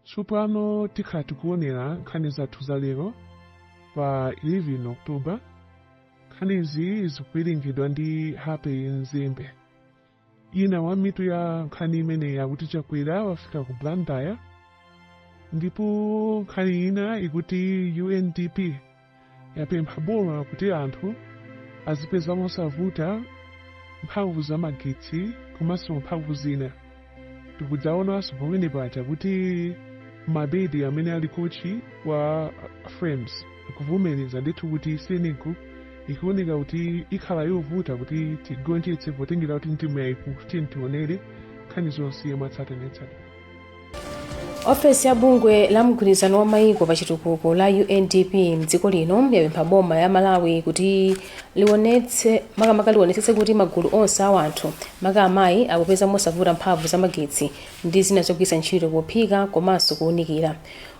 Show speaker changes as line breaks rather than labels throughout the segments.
Tsopano tikhala tikuonera nkhani zathu za lero pa 11 October. Nkhanizi zikuwerengedwa ndi Happy Mzimbe. Ina wa mitu ya nkhani imeneyi akuti Chakwera wafika ku Blantyre ndipo nkhani ina ikuti UNDP yapempha boma kuti anthu azipeza mosavuta mphamvu za magetsi komanso mphamvu zina tikudzaonanso pamene paja kuti mabedi amene ali kochi wa Flames akuvomereza ndithu kuti senegal ikuoneka kuti ikhala yovuta kuti tigonjetse potengera kuti ndi timu yayikulu tiyeni tionere nkhani zonse mwatsatanetsatane ofesi ya bungwe la mgwirizano wa maiko pa chitukuko la undp mdziko lino yapempha boma la malawi kuti lionetse makamaka lionetsetse kuti magulu onse a wanthu maka amayi akupeza mosavuta mphamvu za magetsi ndi zina zogwiritsa ntchito pophika komanso kuwunikira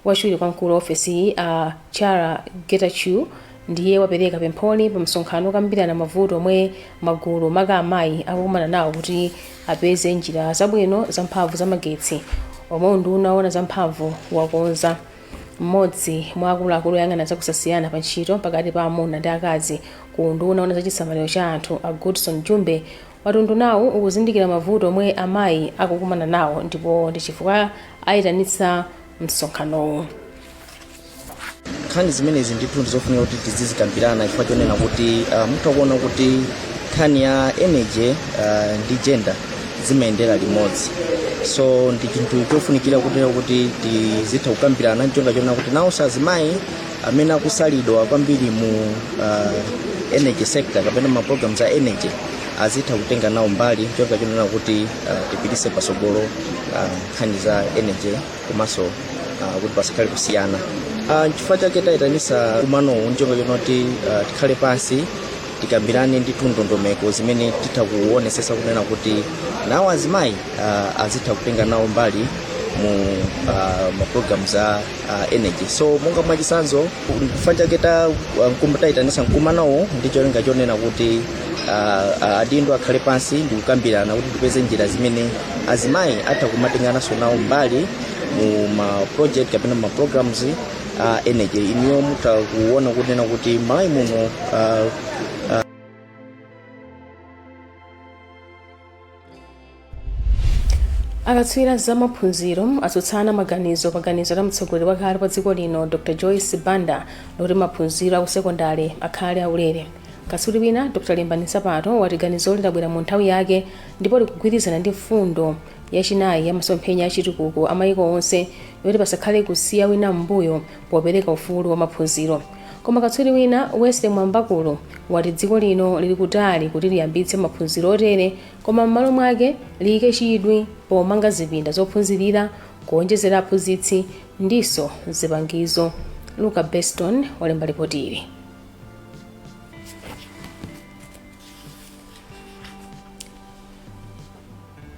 wachiwiri kwa mkulu wa ofesiyi a challa getachew Ndiye wapereka pempholi pa msonkhano okambirana mavuto omwe magulu maka amayi akukumana nawo kuti apeze njira zabwino za mphamvu za magetsi omwe unduna owona za mphamvu wakonza. M'modzi mwa akuluakulu oyang'ana za kusasiyana pa ntchito pakati pa amuna ndi akazi ku unduna owona za chisamaliro cha anthu a Goodson Jumbe wati undunawu ukuzindikira mavuto omwe amayi akukumana nawo ndipo ndi chifukwa ayitanitsa msonkhanowu. nkhani zimenezi ndithu ndizofunika kuti tizizikambirana chifukwa chonena kuti uh, mutha kuona kuti nkhani ya energy uh, ndi gender zimayendera limodzi so ndi chinthu chofunikira kuti tizitha kukambirana ncholinga chonena kuti nawonso azimayi amene akusalidwa kwambiri mu uh, energy sector kapena ma programs a energy azitha kutenga nawo mbali ncholinga chonena kuti uh, tipitise pasogolo uh, nkhani za energy komanso uh, kuti pasakhale kusiyana uh, nchifukwa chake tayitanisa mkumanowu ncholinga chonoti uh, tikhale pansi tikambirane ndithu ndondomeko zimene titha kuonesesa kunena kuti nawo azimayi uh, azitha kutenga nawo mbali mu uh, mapulogalamu a uh, energy so monga mwachisanzo chifukwa chake tayitanisa mkumanowu ndi cholinga chonena kuti adindo akhale pansi ndi kukambirana kuti tipeze njira zimene azimayi atha kumatengananso nawo mbali mu ma project kapena ma programs a energy inuyo mutha kuona kunena kuti malawi muno ah, akatswiri za maphunziro atsutsana maganizo pa ganizo la mtsogoleri wakale wa dziko lino dr joyce banda loti maphunziro akusekondale akhale aulere katswiri wina dr limbani nsapato wati ganizoli labwera mu nthawi yake ndipo likugwirizana ndi mfundo yachinayi ya masomphenya achitukuko a mayiko onse yoti pasakhale kusiya wina m'mbuyo popereka ufulu wa maphunziro Koma katswiri wina, Wesley Mwambakulu, wati dziko lino lili kutali kuti liyambitse maphunziro otere koma m'malo mwake liyike chidwi pomanga zipinda zophunzirira, kuonjezera aphunzitsi ndinso zipangizo. Luka Beston walemba lipotili.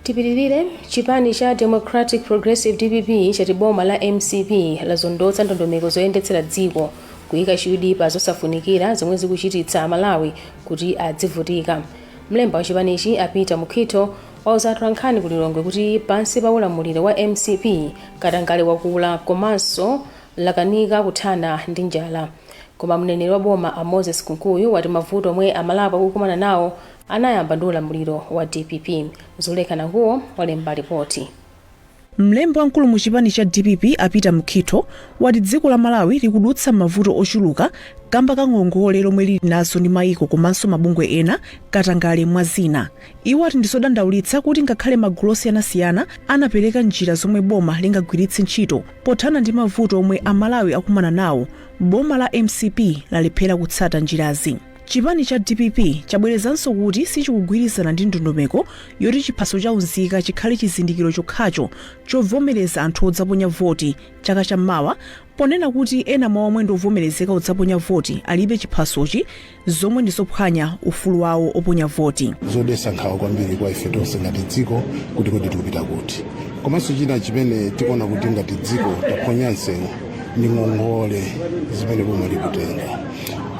tipitirize chipani cha democratic progressive dpp chati boma la mcp lazondotsa ndondomeko zoyendetsera dziko kuyika chidwi pa zosafunikira zomwe zikuchititsa amalawi kuti adzivutika mlembi wa chipanichi a peter mukhitho wauza atolankhani ku lilongwe kuti pansi pa ulamuliro wa mcp katangale wakula komanso lakanika kuthana ndi njala Koma mneneri wa boma a Moses Kunkuyu wati mavuto omwe Amalawi akukumana nawo anayamba ndi ulamuliro wa dpp. Zulekha Nanguwo walemba lipoti. Mlembi wamkulu mu chipani cha dpp a Peter Mukhitho wati dziko la Malawi likudutsa m'mavuto ochuluka kamba ka ngongole zomwe lili nazo ndi maiko komanso mabungwe ena, katangale mwa zina. Iwo ati ndizodandaulitsa kuti ngakhale magulu osiyanasiyana anapeleka njira zomwe boma lingagwiritse ntchito pothana ndi mavuto omwe a Malawi akumana nawo, boma la mcp lalephera kutsata njirazi. Chipani cha dpp chabwerezanso kuti sichikugwirizana ndi ndondomeko yoti chiphaso cha unzika chikhale chizindikiro chokhacho chovomereza anthu odzaponya voti chaka cha mawa ponena kuti ena mwa omwe ndi ovomerezeka kudzaponya voti alibe chiphasochi zomwe ndi zophwanya ufulu wawo oponya voti zodesa nkhawa kwambiri kwa ife tonse ngati dziko kuti kodi tikupita kuti komanso china chimene tikuona kuti ngati dziko taphonya nsewu ndi ngongole zimene boma likutenga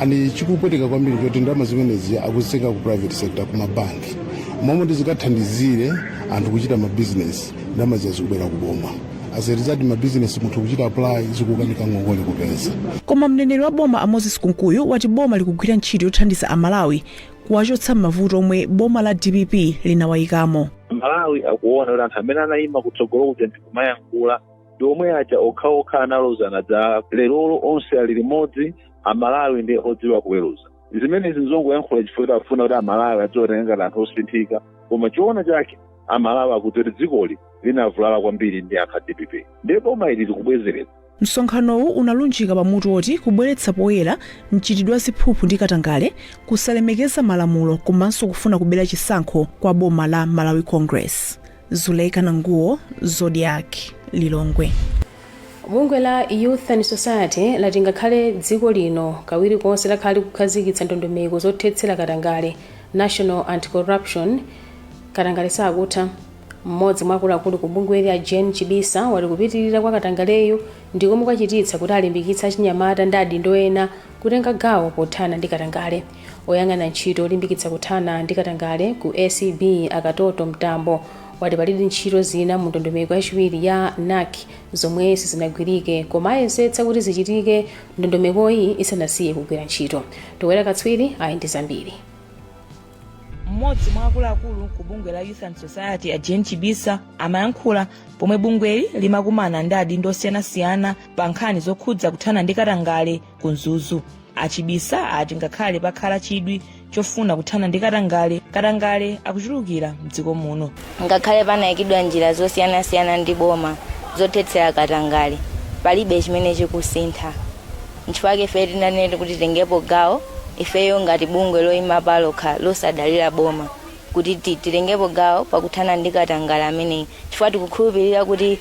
and chikupweteka kwambiri nchoti ndalama zimenezi akuzitenga ku private sector ku mabanki momwe ndizikathandizire anthu kuchita mabizinesi ndamazi zikubwera kuboma as a result mabizinesi munthu kuchita apply zikukanika ngongole kupeza koma mneneri wa boma a moses kunkuyu wati boma likugwira ntchito yothandiza amalawi kuwachotsa m'mavuto omwe boma la dpp linawayikamo amalawi akuona kuti anthu amene anayima kutsogolo kuja ndikumayankhula ndi omwe aja okhaokha analozana zala lerolo onse ali limodzi amalawi ndi odziwa kuweruza zimenezi nzongoyankhula chifukwa choti akufuna kuti amalawi adziwatenga ngati anthu osinthika koma choona chake amalawi akuti kuti dzikoli linavulala kwambiri ndi anthu a dpp ndiye boma ili likubwezeretsa msonkhanowu unalunjika pa mutu woti kubweretsa poyera mchitidwe wa ziphuphu ndi katangale kusalemekeza malamulo komanso kufuna kubera chisankho kwa boma la malawi congress zuleika nanguwo zodiak lilongwe bungwe la youth and society lati ngakhale dziko lino kawiri konse lakhala likukhazikitsa ndondomeko zothetsera katangale national anti-corruption Katangale sakutha. M'modzi mwa akuluakulu ku bungweli a Jane Chibisa wati kupitilira kwa katangaleyu ndi komwe kwachititsa kuti alimbikitse achinyamata ndi adindo ena kutenga gawo pothana ndi katangale. Oyang'ana ntchito yolimbikitsa kuthana ndi katangale ku ACB a Katoto Mtambo wati pali ntchito zina mu ndondomeko yachiwiri ya NACS zomwe sizinagwirike koma ayesetsa kuti zichitike ndondomekoyi isanasiye kugwira ntchito. Towera Katswiri ali ndi zambiri. mmodzi mwa akuluakulu ku bungwe la youth and society a jane chibisa amayankhula pomwe bungweli limakumana ndi adindo osiyanasiyana pa nkhani zokhudza kuthana ndi katangale ku mzuzu a chibisa ati ngakhale pakhala chidwi chofuna kuthana ndi katangale katangale akuchulukira mdziko muno ngakhale panayikidwa njira zosiyanasiyana ndi boma zothetsera katangale palibe chimene chikusintha Nchifukwa chake ifeyo tinanena kuti titengepo gawo ifeyo ngati bungwe loyima palokha losadalira boma kuti titengepo gawo pakuthana ndi katangale ameneyi chifukwa tikukhulupilira kuti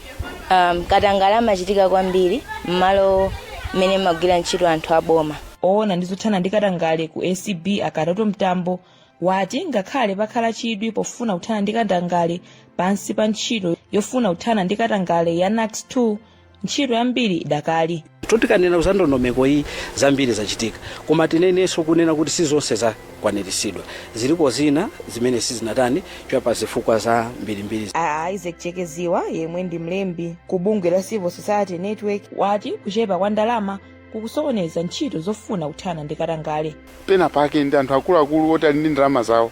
um, katangale amachitika kwambiri m'malo mmene amagwira ntchito anthu a boma owona ndi zothana ndi katangale ku acb a katoto mtambo wati ngakhale pakhala chidwi pofuna kuthana ndi katangale pansi pa ntchito yofuna kuthana ndi katangale ya nacs 2 ntchito yambiri idakalipo tikanena za ndondomeko iyi zambiri zachitika koma tinenenso kunena kuti si zonse zakwaniritsidwa zilipo zina zimene sizinatani kwa zifukwa zambirimbiri a isaac cheke ziba yemwe ndi mlembi ku bungwe la civil society network wati kuchepa kwa ndalama kukusokoneza ntchito zofuna kuthana ndi katangale. pena pake ndi anthu akuluakulu oti ali ndi ndalama zawo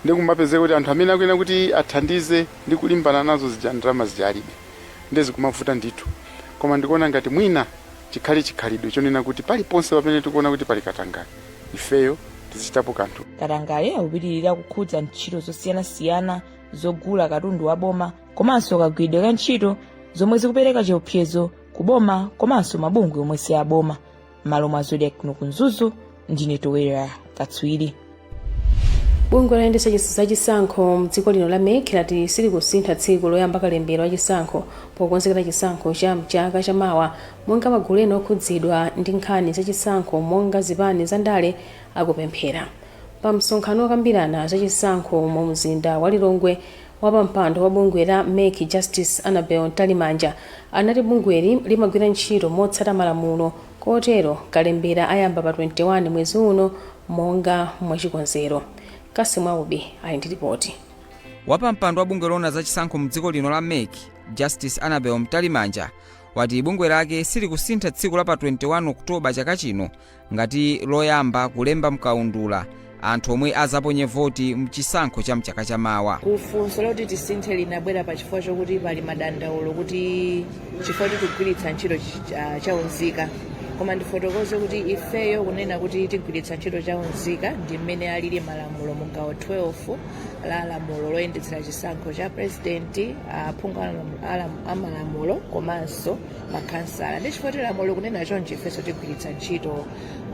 ndi kumapezeka kuti anthu amene akuyenera kuti athandize ndi kulimbana nazo zija ndalama zija alibe nde zikumavuta ndithu koma ndikuona ngati mwina chikhale chikhalidwe chonena kuti paliponse pamene tikuona kuti pali katangale ifeyo tizichitapo kanthu katangale akupitirira kukhudza ntchito zosiyanasiyana zogula katundu wa boma komanso kagwiridwe ka ntchito zomwe zikupereka chiopsezo kuboma komanso mabungwe omwe si aboma m'malo mwa zodiak kuno ku mzuzu ndine towera katswiri bungwe loyendetsa chis- za chisankho mdziko lino la mec lati silikusintha tsiku loyamba kalembera wa chisankho pokonzekera chisankho cha mchaka cha mawa monga magulu ena okhudzidwa ndi nkhani za chisankho monga zipani za ndale akupemphera pa msonkhano wokambirana za chisankho mu mzinda wa lilongwe Wapampando wa bungwe la mec Justice Annabel Mtalimanja anati bungweli limagwira ntchito motsata malamulo kotero kalembera ayamba pa 21 mwezi uno monga mwachikonzero. Cassim Aubi ali ndi lipoti. Wapampando wa bungwe loona za chisankho mdziko lino la mec Justice Annabel Mtalimanja wati bungwe lake silikusintha tsiku la pa 21 October chaka chino ngati loyamba kulemba mkaundula anthu omwe azaponye voti mchisankho cha mchaka cha mawa. ku funso loti tisinthe linabwera pa chifukwa chokuti pali madandaulo kuti chifukwa choti tikugwiritsa ntchito ch- ah, chaunzika koma ndifotokoze kuti ifeyo kunena kuti tigwiritsa ntchito chaunzika ndi mmene alili malamulo mu gawo 12 la lamulo loyendetsera chisankho cha presidenti aphungu a malamulo komanso makhansala ndi chifukwa choti lamulo likunena chonchi ifenso tigwiritsa ntchito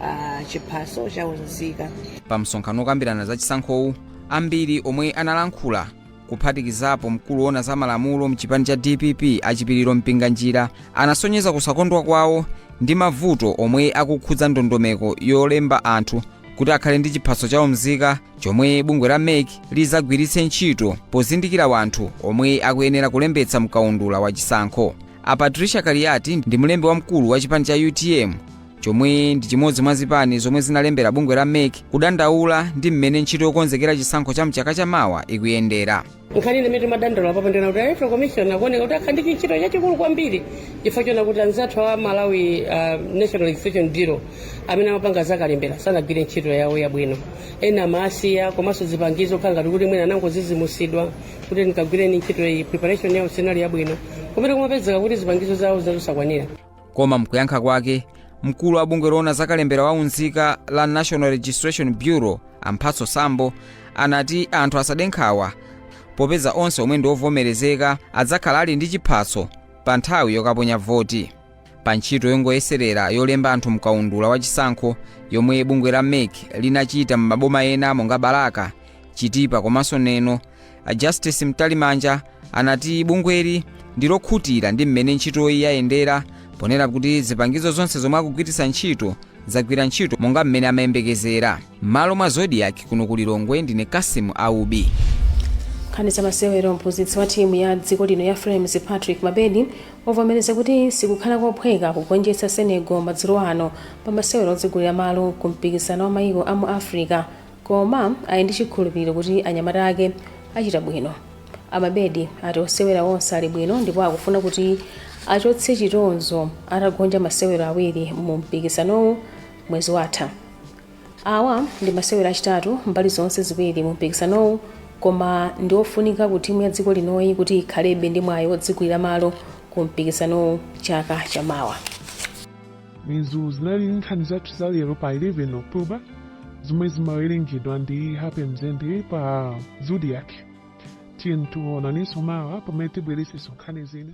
ah, chiphaso cha umzika pa msonkhano wokambirana za chisankhowu ambiri omwe analankhula kuphatikizapo mkulu wona za malamulo mchipani cha dpp a chipiliro mpinganjira anasonyeza kusakondwa kwawo ndi mavuto omwe akukhudza ndondomeko yolemba anthu kuti akhale ndi chiphaso cha umzika chomwe bungwe la mec lizagwiritse ntchito pozindikira wanthu omwe akuyenera kulembetsa mkaundula wa chisankho a patricia kaliyati ndi mlembi wamkulu wa chipani cha utm chomwe ndi chimodzi mwa zipani zomwe zinalembera bungwe la mec kudandaula ndi mmene ntchito yokonzekera chisankho cha mchaka cha mawa ikuyendera nkhani imene timadandaula apapa ndi yoti electoral commission akuoneka kuti akhala ndi chintchito chachikulu kwambiri chifukwa choona kuti anzathu a malawi uh, national registration bureau amene amapanga zakalembera sanagwire ntchito yawo yabwino ena amaasiya komanso zipangizo kukhala ngati kuti mwina anangodzidzimutsidwa kuti kagwireni ntchito iyi preparation yawo sinali yabwino komwe kumapezeka kuti zipangizo zawo zina zosakwanira koma mkuyankha kwake mkulu wa bungwe loona za kalembera wa unzika la national registration bureau a mphatso sambo anati anthu asade nkhawa popeza onse omwe ndi ovomerezeka adzakhala ali ndi chiphaso pa nthawi yokaponya voti pa ntchito yongoyeserera yolemba anthu mkaundula wa chisankho yomwe bungwe la mec linachita m'maboma ena monga balaka chitipa komanso neno a justice mtalimanja anati bungweli ndi lokhutira ndi mmene ntchitoyi yayendera ponena kuti zipangizo zonse zomwe akugwiritsa ntchito zagwira ntchito monga mmene amayembekezera M'malo mwa Zodiak kuno ku Lilongwe ndine Cassim Aubi. Nkhani za masewero Mphunzitsi wa timu ya dziko lino ya Flames Patrick Mabedi wavomereza kuti sikukhala kophweka kugonjetsa Senegal madzulo ano pa masewero odzigulira malo ku mpikisano wa mayiko a mu Africa koma ali ndi chikhulupiriro kuti anyamata ake achita bwino. A Mabedi ati osewera onse ali bwino ndipo akufuna kuti achotse chitonzo atagonja masewero awiri mu mpikisanowu mwezi watha. Awa ndi masewero achitatu mbali zonse ziwiri mu mpikisanowu koma ndi ofunika ku timu ya dziko linoyi kuti ikhalebe ndi mwayi wodzigulira malo ku mpikisanowu chaka cha mawa. Izo zinali nkhani zathu za lero pa 11 October zomwe zimawerengedwa ndi Happy Mzembe pa Zodiac. Tiyeni tionanenso mawa pamene tibweretsenso nkhani zina.